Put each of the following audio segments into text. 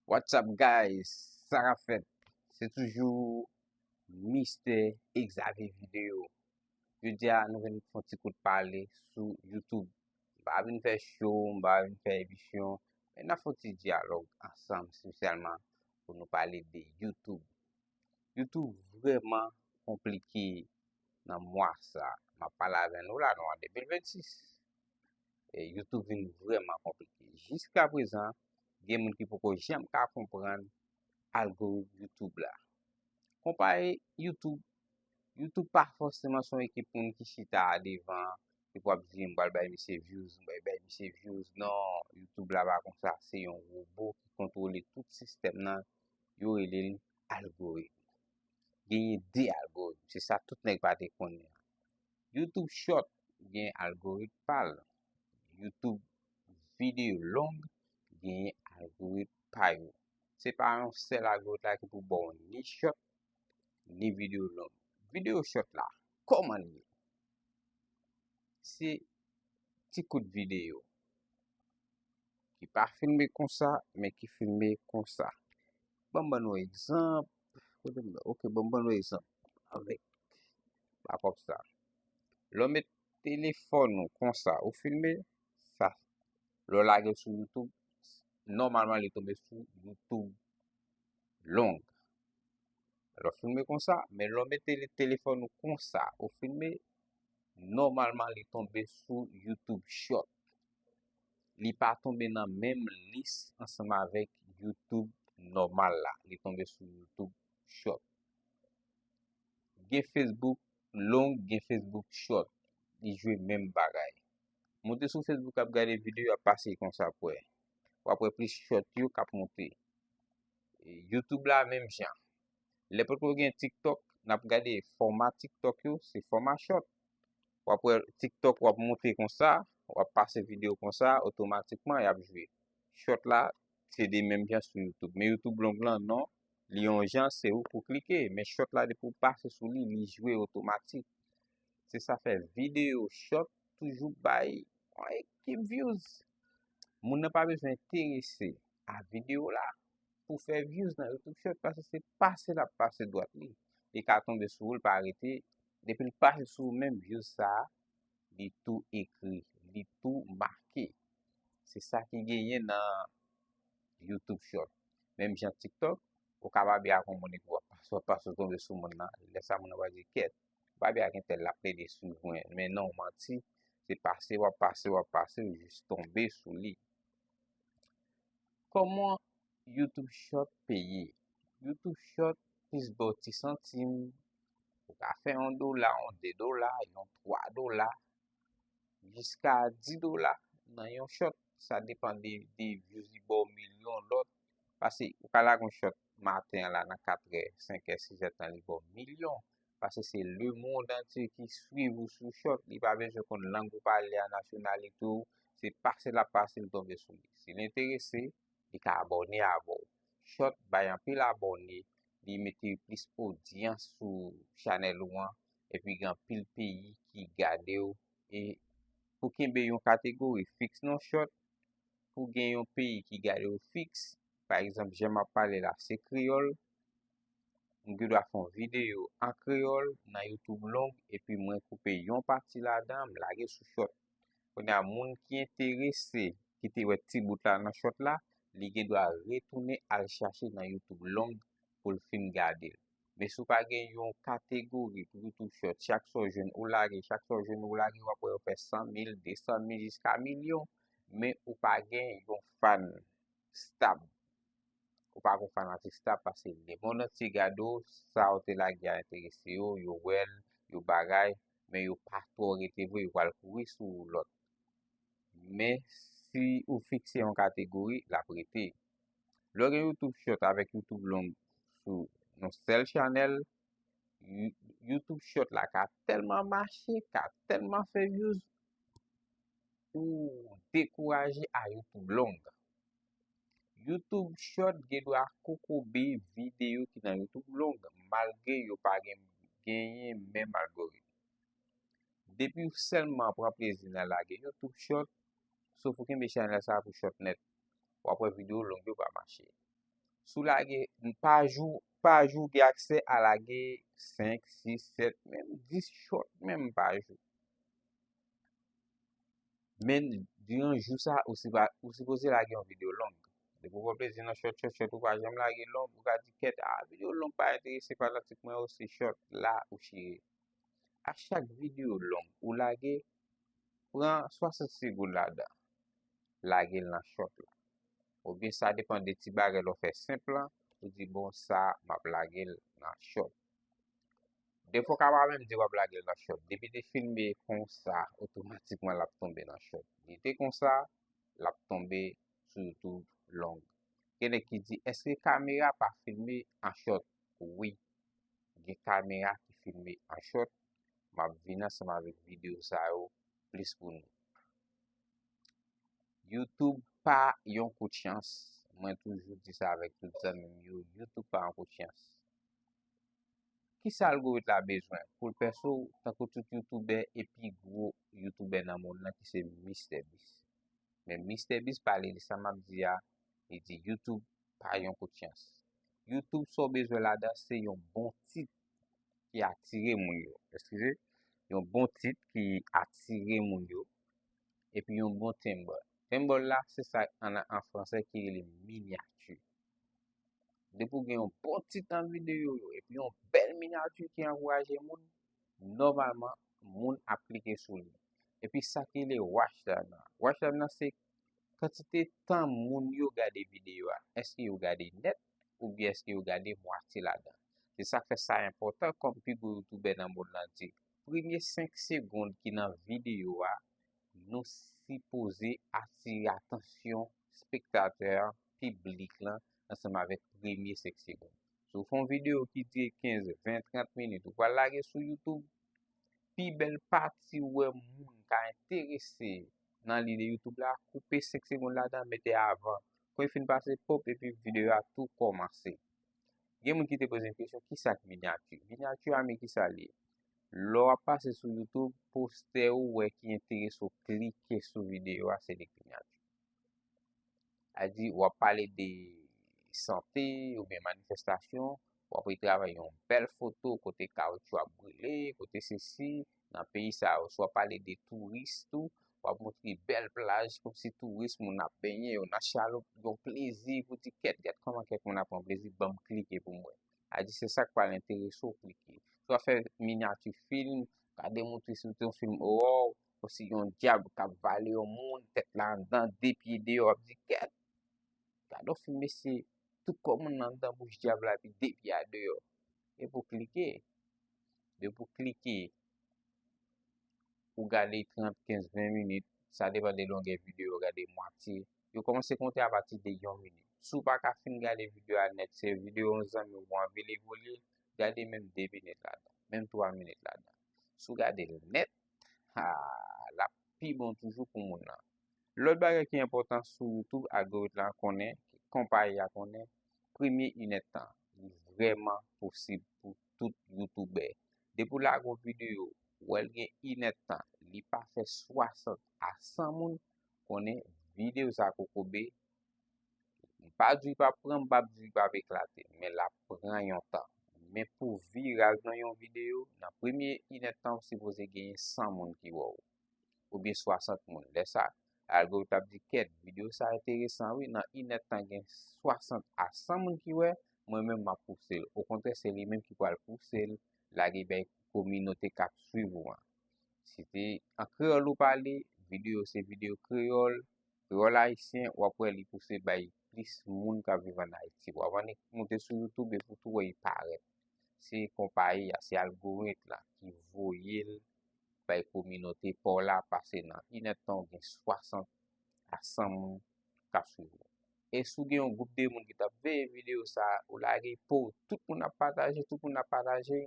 What's up guys, sa kap fèt? Se toujou Mistè Exavier Video. Jodi a nou vin fon ti kout pale sou YouTube. Ba vin fè show, ba vin fè emisyon, men na fon ti diyalog ansanm spesyalman pou nou pale de YouTube. YouTube vreman komplike nan mwa sa. Ma pale avè nou la nou an 2026. E YouTube vin vreman komplike. Jiska prezan, gen moun ki poko jem ka kompran algoritm YouTube la. Kompa e YouTube, YouTube pa fosseman son ekip moun ki chita a devan, ki pou ap di m bal bay misye views, m bay bay misye views, non, YouTube la pa konsa, se yon robo ki kontrole tout sistem nan, yo rele l algoritm. Genye 2 algoritm, se sa tout nèk pa te konnen. Youtube short gen algorit pal. Youtube video long gen algorit pa yo. Se pa yon sel algorit la ki pou bon ni short ni video long. Video short la, koman li? Se ti kout video. Ki pa filme konsa, men ki filme konsa. Banm ban nou egzanp. Kote m nan? Ok, bon m ban nou egzanp avèk backup sa. Lè w met telefòn ou konsa, ou filme, sa, lè w lage sou YouTube, nòmalman li tonbe sou YouTube long. Lè w filme konsa, men lè w met telefòn ou konsa, ou filme, nòmalman li tonbe sou YouTube short. li pa tonbe nan menm lis ansanm avèk YouTube nòmal la. Li tonbe sou YouTube Short. Gen Facebook long, gen Facebook Short. Li jwe menm bagay. Monte sou Facebook ap gade video ap pase kon sa pou wè. Wap wè plis Short yo kap monte. YouTube la menm jan. Lè potko yo gen TikTok, nap gade fòma TikTok yo, se fòma short. Wap wè TikTok wap monte konsa, wap pase video konsa, otomatikman yap jwe. Short la, se de menm jan sou YouTube. Men YouTube long lan, non, li yon jan, se ou pou klike. Men short la, depi ou pase sou li, li jwe otomatik. Se sa fè video short toujou bay yon ekip views. Moun nan pa bezwen enterese a video la. pou fè views nan youtube short pase se pase lap pase dwat li li ka tonbe sou ou li pa rete depi li pase sou ou menm views sa li tou ekri li tou make se sa ki genyen nan youtube short menm jan tiktok ou ka babi ak on moun epi wap pase wap pase tonbe sou moun nan lè sa moun nan wap di ket babi ak entel lap plede sou mwen men non manti se pase wap pase wap pase ou jis tonbe sou li Koman YouTube short peye? YouTube short plis baw ti santim, ou ka fè yon dola, yon de dola, yon twa dola, jiska di dola nan yon short. Sa depan de views li baw mil yon lòt. Pase ou ka lage yon short maten an la nan katrè, senkè, sizè tan li baw mil yon. Pase se le mond antye ki swiv ou sou chòt, li pa bezwen konn lang ou pale a, nasyonalite w, se pase lap pase li tonbe sou li. Si l enterese, li ka abòne avè w. Chòt bay anpil abòne, li mete plis odyans sou chanèl ou an, epi gen anpil peyi ki gade w. E pou kenbe yon kategori fiks non chòt, pou gen yon peyi ki gade w fiks, pa egzanp jan map pale la se kreyòl, m gen dwa fè yon videyo an kreyòl nan YouTube long epi mwen koupe yon pati ladan m lage sou short. Kounye a moun ki enterese ki te wè ti bout la nan short la, li gen dwa retounen al chache nan YouTube long pou l fin gade l. Men si w pa gen yon kategori pou YouTube short, chak sa w jwenn ou lage, chak sa w jwenn ou lage, w ap wè yo fè 100 mil, 200 mil jiska milyon men ou pa gen yon fan. Stab. Ou pa gon fanatik Stab pase le mond antye gade w, sa ou te lage a enterese yo, yo wè l, yo bagay, men yo pa twò rete vre, yo pral kouri sou lòt. Men, si ou fikse yon kategori, l ap rete. Lè w gen YouTube Short avèk YouTube Long sou yon sèl chanèl, YouTube Short la ka tèlman mache, ka tèlman fè vyouz, ou dekouraje a yo tou long. Youtube short gen dwa kokobe videyo ki nan youtube long malgre yo pa gen genyen menm algoritm. Depiw sèlman pran plezi nan lage youtube short sof ou kenbe chanèl sa pou short nèt wap wè videyo long yo pa mache. Sou lage pa jou pa jou gen aksè a lage 5, 6, 7 menm 10 short menm pa jou. Men, diran jou sa, ou si pa, ou si poze lage yon video long. De pou wap plezi nan short, short, short, ou pa janm lage long, ou ka di kèt, a, video long pa enterese fanatik mwen yo, se short la ou chire. A chak video long ou lage, pran 60 segoun la dan, lage l nan short la. Ou bi sa depan de ti bagay lò fè senp lan, ou di bon sa, map lage l nan short. Defo ka pa menm di wap lagel nan shot. Depi li filme konsa otomatikman lap tonbe nan shot. Li te konsa lap tonbe sou youtube long. Gen nèg ki di eske kamera pa filme an shot. Wi gen kamera ki filme an shot. Map vin ansanm avèk video sa yo plis pou nou. Youtube pa yon kout chans. Mwen toujou di sa avèk tout zanmim yo. Youtube pa yon kout chans. Kisa algorit la bezwen poul pèse w tankou tout youtoubè e pi gwo youtoubè nan mond lan ki se Mistè Bis. Men Mistè Bis pale li sa map di a li di youtoub pa yon kout chans. Youtoub sa w bezwen ladan se yon bon tit ki atire moun yo. Eskize, yon bon tit ki atire moun yo epi yon bon timbre. Timbre la se sa an franse ki rele minyati. Depi ou gen yon bon ti tan videyo yo epi yon bèl minyati ki ankouraje moun, nòmalman moun ap klike sou li. Epi sa ki rele watch time nan. Watch time nan se kantite tan moun yo gade videyo a. Èske yo gade nèt oubyen èske yo gade mwatye ladan. Se sa k fè sa enpòtan kòm pi gwo youtubè nan monn lan di. Premye 5 segond ki nan videyo a nou sipoze atire atansyon spektatè a, piblik lan, ansanm avèk premye 5 segonn. Si w fè yon videyo ki dire 15, 20, 30 minit, ou pral lage sou YouTube, pi bèl pati ou wè moun ka enterese nan lide YouTube la, koupe 5 segonn ladan, mete avan. Kwen fin pase, pop, epi videyo a tou kòmanse. Gen moun ki te poze m kesyon, ki sa k minyati? Minyati a men ki sa li? Lò a pase sou YouTube, postè ou wè ki enterese ou klike sou videyo a, se li k minyati. A di, w ap pale de sante ou byen manifestasyon, w ap retrave yon bèl foto kote kawoutchou ap boule, kote se si, nan peyi sa yo. Sou ap pale de touris tou, w ap montre bèl plaj kòm si touris moun ap benyen yo nan chaloup, yon plezi pou di kèt, gad kòman kèk moun ap pran plezi, banm klike pou m wè. A di, se sa k pral enterese w klike. Sou ap fè minyati fim, gade montre si w te yon fim, woww! Ou si yon dyab k ap vale yon moun, tèt la anndan, de pye deyò, w ap di kèt. Gad yon fim mesye, tout kò moun nan anndan bouch dyab la epi de pye a deyò. E pou klike, de pou klike, ou gade 30, 15, 20 minit, sa depan de longè videyo, gade mwatye, yo kòmanse konte apati de yon minit. Si w pa ka fin gade videyo a nèt, se videyo yon zanmi w ou anvi li pou li, gade menm 2 minit ladan, menm 3 minit ladan. Si w gade l nèt, Haa, l ap pi bon toujou pou moun lan. Lòt bagay ki enpòtan sou YouTube, algorit la konnen, konpayi a konnen, premye inèd tan, li vrèman posib pou tout Youtoubè. Depi w lage yon videyo, wè l gen inèd tan, li pa fè 60 a 100 moun, konnen videyo sa kokobe, Li pa di li pap pran, m pap di li pap eklate, men lap pran yon tan. Men pou viral nan yon videyo, nan premye inèdtan ou sipoze genyen 100 moun ki wè w. Oubyen 60 moun. Lè sa, algoritm ap di kèt, videyo sa enteresan wi, nan inèdtan gen 60 a 100 moun ki wè, mwen menm map pouse l. Okontrè se li menm ki pral pouse l lage bay kominote kap swiv ou an. Si te an kreyòl ou pale, videyo se videyo kreyòl, Kreyòl Ayisyen wap wè li pouse bay plis moun kap viv an Ayiti. Wap annik moute sou YouTube epi w tou wè li parèt. Se konpayi a, se algoritm la ki voye l bay kominote pa w la pase nan inèdtan ou gen 60 a 100 moun kap swiv ou. E si w gen yon gwoup de moun ki tap veye videyo sa a, ou lage pow, tout moun ap pataje, tout moun ap pataje.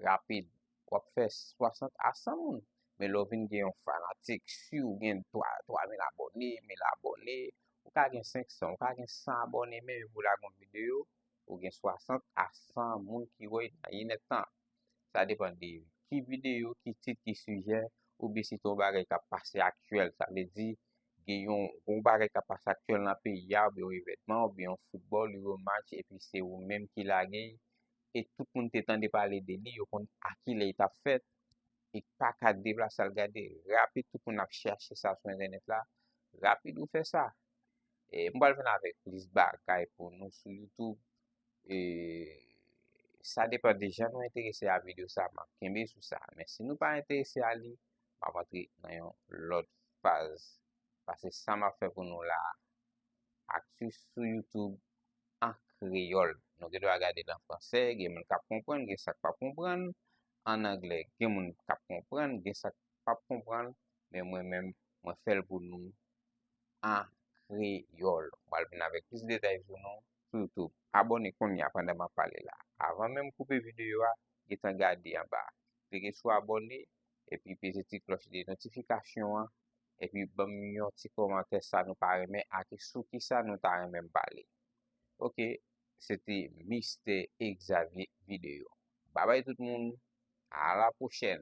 rapid w ap fè 60 a 100 moun men lè w vin gen yon fanatik siw gen 3 mil abòne 1 mil abòne ou ka gen 500 ou ka gen 100 abòne men epi w lage yon videyo ou gen 60 a 100 moun ki wè nan yon nèt tan sa depan de ki videyo ki tit ki sijè ou byen si se yon bagay k ap pase aktyèl sa vle di gen yon gwo bagay k ap pase aktyèl nan peyi a ou byen yon evènman ou byen yon foutbòl ou byen yon match epi se ou menm ki lage e tout moun te tande pale de li, yo konn a ki lè li t ap fèt, e pa ka deplase al gade. Rapid tout moun ap chèche sa sou entènèt la, rapid ou fè sa. E m pral vin avèk plis bagay pou nou sou YouTube, e sa depan de jan nou enterese a videyo sa, m ap kenbe sou sa. Men si nou pa enterese a li, m ap antre nan yon lòt faz. Pase sa m ap fè pou nou la, aktif sou YouTube. an kreyòl. Nou gen dwa gade l an fransè, gen moun k ap konprann, gen sa k pa p konprann, ann anglè, gen moun k ap konprann, gen sa k pa p konprann, men mwen menm, mwen fè l pou nou an kreyòl. M pral vin avèk plis detay pou nou sou YouTube. Abòne kounye a pandan m ap pale la. Avan menm m koupe videyo a, gen tan gade anba a. Klike sou abòne, epi peze ti klòch de notifikasyon an Epi banm yon ti komantè sa nou pa renmen ak sou kisa nou ta renmen m pale. Ok, se te Mistè Xavier Video. Babay tout moun, a la pwochèn!